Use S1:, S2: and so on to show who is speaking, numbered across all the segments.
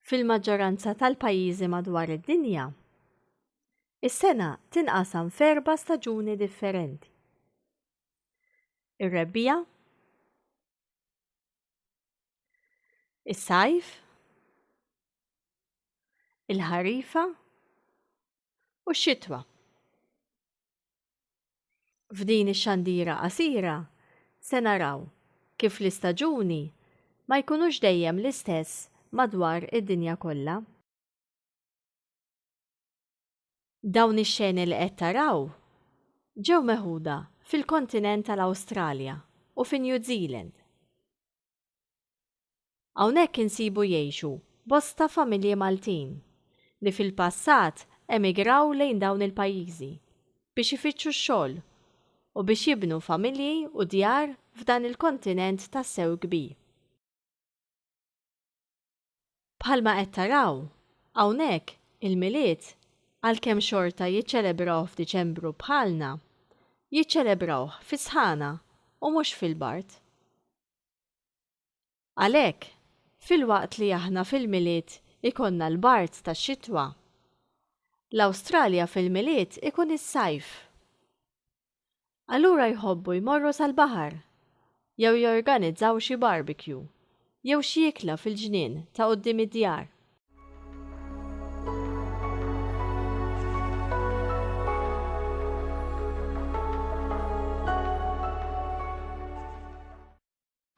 S1: fil-maġġoranza tal-pajjiżi madwar id-dinja, is-sena tinqasam f'erba' staġuni differenti. Ir-rebbija, Is-sajf, il-ħarifa u x-xitwa. F'din ix-xandira qasira se naraw kif l-istaġuni ma jkunux dejjem l-istess madwar id-dinja kollha. Dawn ix-xeni li qed taraw ġew meħuda fil-kontinent tal-Awstralja u fi New Zealand. Hawnhekk insibu jgħixu bosta familji Maltin li fil-passat emigraw lejn dawn il-pajjiżi biex ifittxu x-xogħol u biex jibnu familji u djar f'dan il-kontinent tassew kbir. Bħalma qed taraw, hawnhekk, il-Milied, għalkemm xorta jiċċelebrawh f'Diċembru bħalna, jiċċelebrawh fis-sħana u mhux fil-bard. Għalhekk, filwaqt li aħna fil-Milied ikollna l-bard tax-xitwa, l-Awstralja fil-Milied ikun is-sajf. Allura jħobbu jmorru sal-baħar jew jorganizzaw xi barbecue jew xi ikla fil-ġnien ta' quddiem id-djar.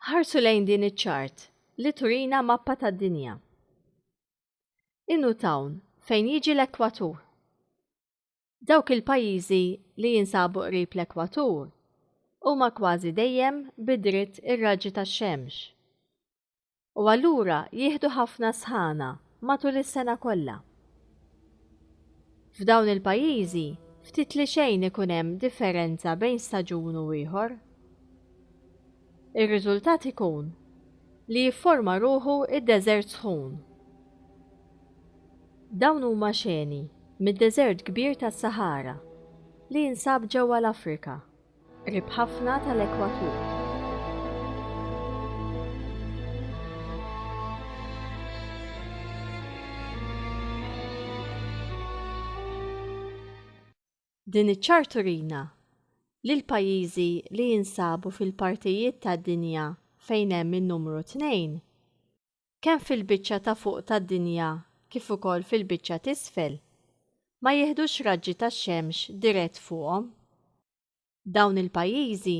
S1: Ħarsu lejn din iċ-ċart li turina mappa tad-dinja. Inu Town fejn jiġi l-ekwatur. Dawk il-pajjiżi li jinsabu qrib l-ekwatur huma kważi dejjem bi dritt ir-raġġi tax-xemx u allura jieħdu ħafna sħana matul is-sena kollha. F'dawn il-pajjiżi ftit li xejn ikun hemm differenza bejn staġun u ieħor. Ir-riżultat ikun li jifforma ruħu d-deżert sħun. Dawn huma xeni mid-deżert kbir tas-Saħara li jinsab ġewwa l-Afrika, qrib ħafna tal-ekwatur. Din iċ-ċar turina li l-pajjiżi li jinsabu fil-partijiet tad-dinja fejn hemm in-numru tnejn, kemm fil-biċċa ta' fuq tad-dinja kif ukoll fil-biċċa t'isfel, ma jiħdux raġġi tax-xemx dirett fuqhom. Dawn il-pajjiżi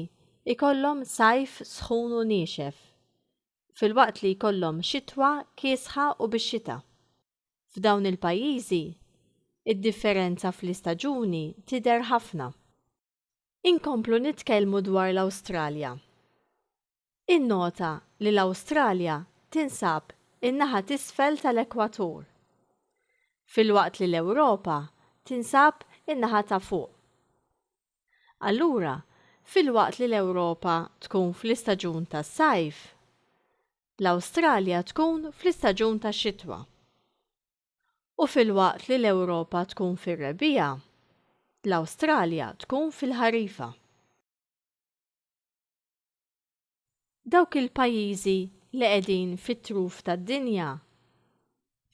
S1: jkollhom sajf sħun u niexef, filwaqt li jkollhom xitwa kiesħa u bix-xita. F'dawn il-pajjiżi, id-differenza fl-istaġuni tidher ħafna. Inkomplu nitkellmu dwar l-Awstralja. Innota li l-Awstralja tinsab in-naħa t'isfel tal-ekwatur, filwaqt li l-Ewropa tinsab in-naħa ta' fuq. Allura, filwaqt li l-Ewropa tkun fl-istaġun tas-sajf, l-Awstralja tkun fl-istaġun tax-xitwa u filwaqt li l-Ewropa tkun fir-rebbiegħa, l-Awstralja tkun fil-ħarifa. Dawk il-pajjiżi li qegħdin fit-truf tad-dinja,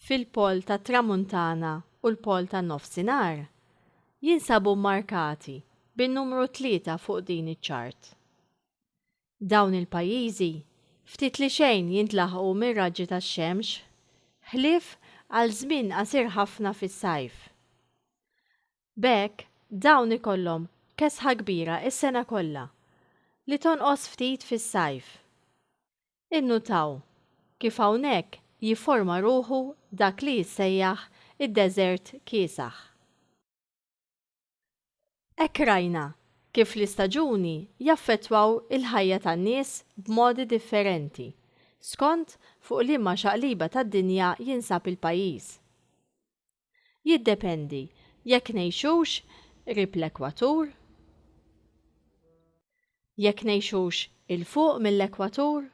S1: fil-Pol tat-Tramuntana u l-Pol tan-Nofsinhar, jinsabu mmarkati bin-numru tlieta fuq din iċ-ċart. Dawn il-pajjiżi ftit li xejn jintlaħqu mir-raġġi tax-xemx, ħlief għal żmien qasir ħafna fis-sajf. B'hekk dawn ikollhom kesħa kbira s-sena kollha, li tonqos ftit fis-sajf. Innutaw kif hawnhekk jifforma ruħu dak li jissejjaħ id-deżert kiesaħ. Hekk rajna kif l-istaġuni jaffettwaw il-ħajja tan-nies b'modi differenti skont fuq liema xaqliba tad-dinja jinsab il-pajjiż. Jiddependi jekk ngħixux qrib l-ekwatur, jekk ngħixux 'il fuq mill-ekwatur,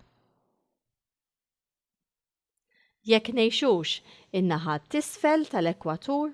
S1: jekk ngħixux in-naħa t'isfel tal-ekwatur,